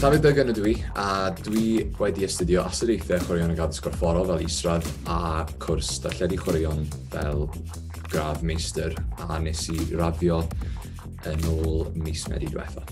Dafydd Byrgen ydw i, a dwi wedi astudio astudiaethau chwaraeon ag addysg gorfforol fel israd a cwrs darlledu chwaraeon fel gradd meistr a nes i raddio yn ôl mis Medi diwetha.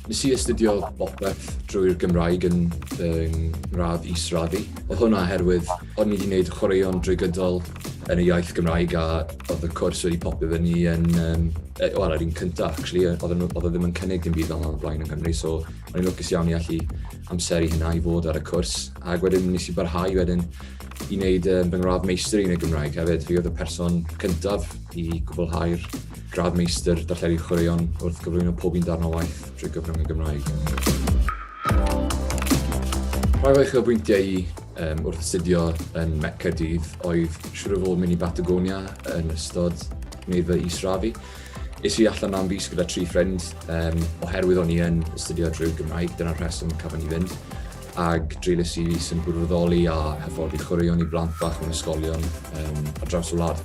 Nes i astudio bopeth drwy'r Gymraeg yn fy ngradd israd i. Oedd hwnna oherwydd O'n i 'di neud chwaraeon drwy gydol yn y iaith Gymraeg a oedd y cwrs wedi popio fy ni yn, um, wel, yr un cynta, actually, oedd e oedd e ddim yn cynnig dim byd fel yna blaen yn Gymru, so o'n i'n lwcus iawn i allu amser i hynna i fod ar y cwrs. Ac wedyn nes i barhau wedyn i wneud um, fy ngradd meistr yn y Gymraeg hefyd. Fi oedd y person cyntaf i gwblhau'r gradd meistr darlledu chwaraeon wrth gyflwyno pob un darn o waith drwy gyfrwng y Gymraeg. Rhai o'i chylbwyntiau i Yym, wrth astudio yn Mecca dydd, oedd siŵr o fod mynd i Batagonia yn ystod wneud fy israfu. Is i allan am fus gyda tri ffrind, um, oherwydd o'n i yn astudio drwy Gymraeg, dyna'r rheswm cafon i fynd. Ag dreulus i fus yn gwirfoddoli a hyfforddi chwaraeon i blant bach mewn ysgolion um, ar draws y wlad.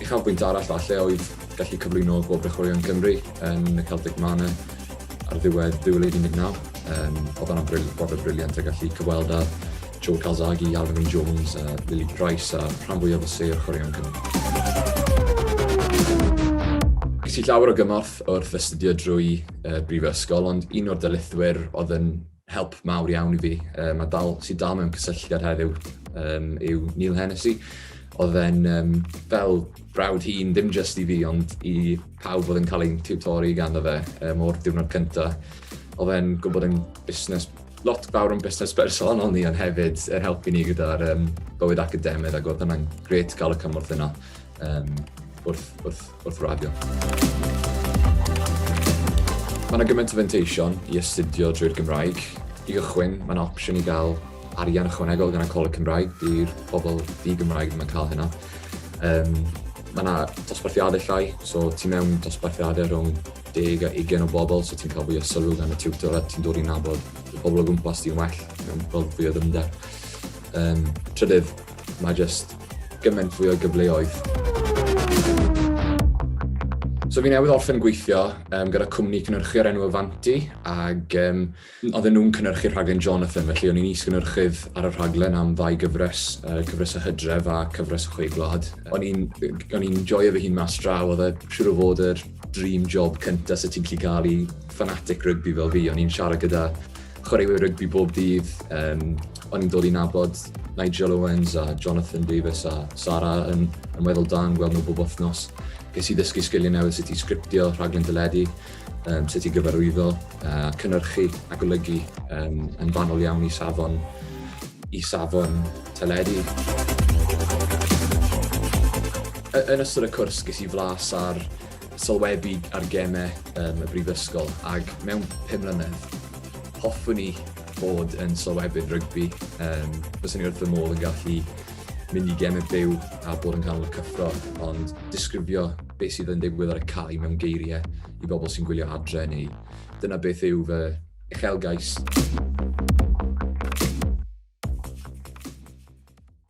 Uchafbwynt arall falle oedd gallu cyflwyno Gwobrau Chwaraeon Cymru yn y Celtic Manor Ar ddiwedd 2019, um, oedd yna brofiad briliant a gallu cyfweld â Joe Calzaghe, Alvin Jones, a Lily Price a rhan fwyaf o sêr chwaraeon Cymru. Ges i llawer o gymorth wrth astudio drwy uh, brifysgol, ond un o'r dylithwyr oedd yn help mawr iawn i fi. Um, a dal, sy'n dal mewn cysylltiad heddiw um, yw Neil Hennessy. Oedd e'n um, fel brawd hun, dim just i fi, ond i pawb oedd yn cael ein tiwtori gan o fe um, o'r diwrnod cyntaf. Oedd e'n gwybod yn busnes, lot fawr yn busnes bersonol ni, ond hefyd er helpu ni gyda'r um, bywyd academaidd, ac oedd hwnna'n gret gael y cymorth yna um, wrth, wrth wrth raddio. Mae yna gymaint o fenteision i astudio drwy'r Gymraeg. I gychwyn, mae'n opsiwn i gael arian ychwanegol gan y Coleg Cymraeg. Di'r pobl di Gymraeg ddim yn cael hynna. Um, mae yna dosbarthiadau llai, so ti mewn dosbarthiadau rhwng 10 a 20 o bobl, so ti'n cael fwy o sylw gan y tiwtor a ti'n dod i'n nabod y pobl o gwmpas di'n well, mewn gweld fwy o ddymder. Um, trydydd, mae jyst gymaint fwy o gyfleoedd. So fi newydd orffen gweithio um, gyda cwmni cynhyrchu o'r enw Avanti, ac um, oedden nhw'n cynhyrchu rhaglen Jonathan, felly o'n i'n is-gynhyrchydd ar y rhaglen am ddau gyfres, uh, cyfres y hydref a cyfres y chweiglad. O'n i'n joio fy hun mas draw, oedd e siwr o fod yr dream job cyntaf sydd ti'n gallu cael i fanatic rygbi fel fi, o'n i'n siarad gyda chwaraewyr rygbi bob dydd. Um, o'n i'n dod i nabod Nigel Owens a Jonathan Davis a Sara yn, yn weddol da yn gweld nhw bob wythnos. Ges i ddysgu sgiliau newydd sut i sgriptio, rhaglen dyledu, um, sut i gyfarwyddo, uh, cynnyrchu a golygu um, yn fanol iawn i safon, i safon teledu. Yn ystod y cwrs ges i flas ar sylwebu ar gemau um, y brifysgol ac mewn pum mlynedd hoffwn i bod yn sylwebydd rygbi. Um, Fyswn i wrth fy modd yn gallu mynd i gemau byw a bod yn canol y cyffro, ond disgrifio beth sydd yn digwydd ar y cae mewn geiriau i bobl sy'n gwylio adre neu dyna beth yw fy uchelgais.